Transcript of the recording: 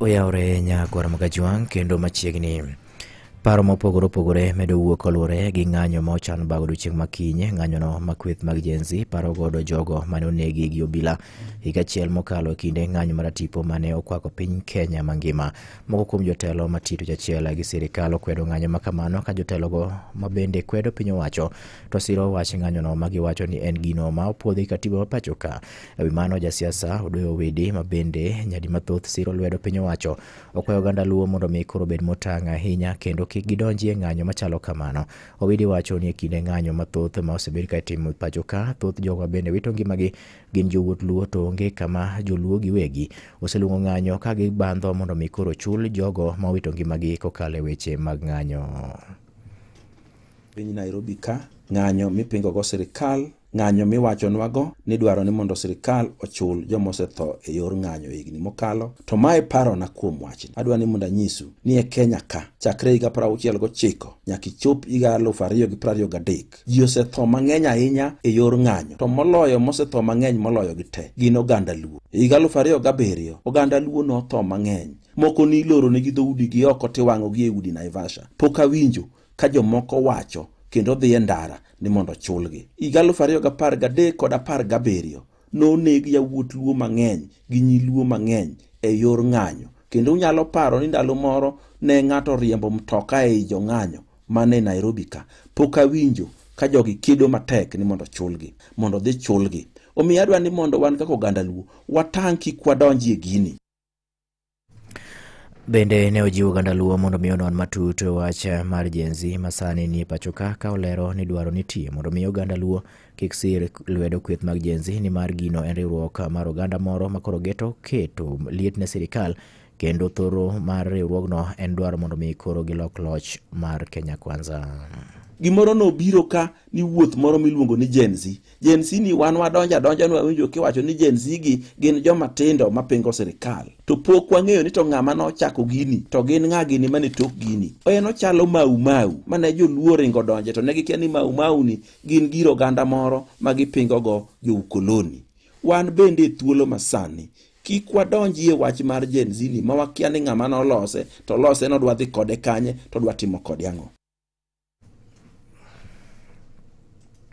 oyawore nyakwar magajwang' kendo machiegni paro mopogore opogore medo wuok koluwore gi ng'anyo ma ochan bago odiechieng' ma kiny ng'anyono ma kweth mag jenzi paro godo jogo mane onegi gi obila higa achiel mokalo e kinde ng'anyo maratipo mane okwako piny kenya mangima moko kuom jotelo matito jachiel gi sirikal okwedo ng'anyo ma kamano ka jotelogo ma bende kwedo piny owacho to siro wach ng'anyono ma giwacho ni en gino ma opuodhi katiba ma pachoka E wi mano, jasiasa Odoyo Owidi ma bende nyadi mathoth siro lwedo piny owacho okwayo oganda Luo mondo omi koro obed motang' ahinya kendo kik gidonji e ng'anyo machalo kamano. Owidi wacho ni e kinde ng'anyo mathoth ma osebed ka itimo e pacho ka, thoth jogo ma bende wito ngimagi gin jowuot Luo to onge kama Joluo giwegi oseluongo ng'anyo ka gibandho mondo omi koro ochul jogo ma owito ngimagi kokalo e weche mag ng'anyo. piny Nairobi ka, ng'anyo mipingogo sirkal Ng'anyo miwachonwago ni dwaro ni mondo sirkal ochul joma osetho e yor ng'anyo e higni mokalo, to mae parona kuom wachni. Adwa ni mondo anyisu ni e Kenya ka, chakre higa piero auchiel gochiko nyaka ichop higa aluf ariyo gi piero ariyo gadek, ji osetho mang'eny ahinya e yor ng'anyo, to moloyo mosetho mang'eny moloyo gi te gin oganda Luo. E higa aluf ariyo gabiriyo, oganda Luo notho mang'eny. Moko niloronegi dhoudigi oko tiwang'ogi e udi Naivasha. Pok awinjo ka jomoko wacho kendo dhi e ndara ni mondo chulgi. Higa 2013 kod 17 noneg yawuot luo mang'eny gi nyi luo mang'eny e yor ng'anyo kendo unyalo paro ni ndalo moro ne ng'ato riembo mtoka ei jong'anyo mane Nairobi ka pok awinjo ka jogi kedo matek ni mondo chulgi mondo dhi chulgi omiyo adwa ni mondo wan kaka oganda luo watang' kik wadonji e gini Bende ne ojiwo oganda Luo mondo mi onon matut wach mar Gen Z ma sani nie pacho ka ka olero ni dwaro nitie mondo mi oganda Luo kik sir lwedo kweth mag Gen Z nimar gino en riwruok mar oganda moro ma koro geto keto liet ne sirikal kendo thoro mar riwruogno en dwaro mondo mi koro gilok loch mar Kenya Kwanza. Gimoro nobiro ka ni wuoth moro miluongo ni Gen Z Gen Z ni wan wadonjo adonja ni wawinjo kiwacho ni Gen Z gi gin joma tindo ma pingo sirkal. To pok wang'eyo ni to ng'ama nochako gini to gin ng'a gini mane tok gini. En ochalo mau mau mane joluo ringo donje to ne gikia ni mau mau ni gin gir oganda moro ma gipingo go jo ukoloni. Wan bende e thuolo masani kik wadonji e wach mar Gen Z ni ma wakia ni ng'ama nolose to lose no dwa dhi kode kanye to dwa timo kode ang'o.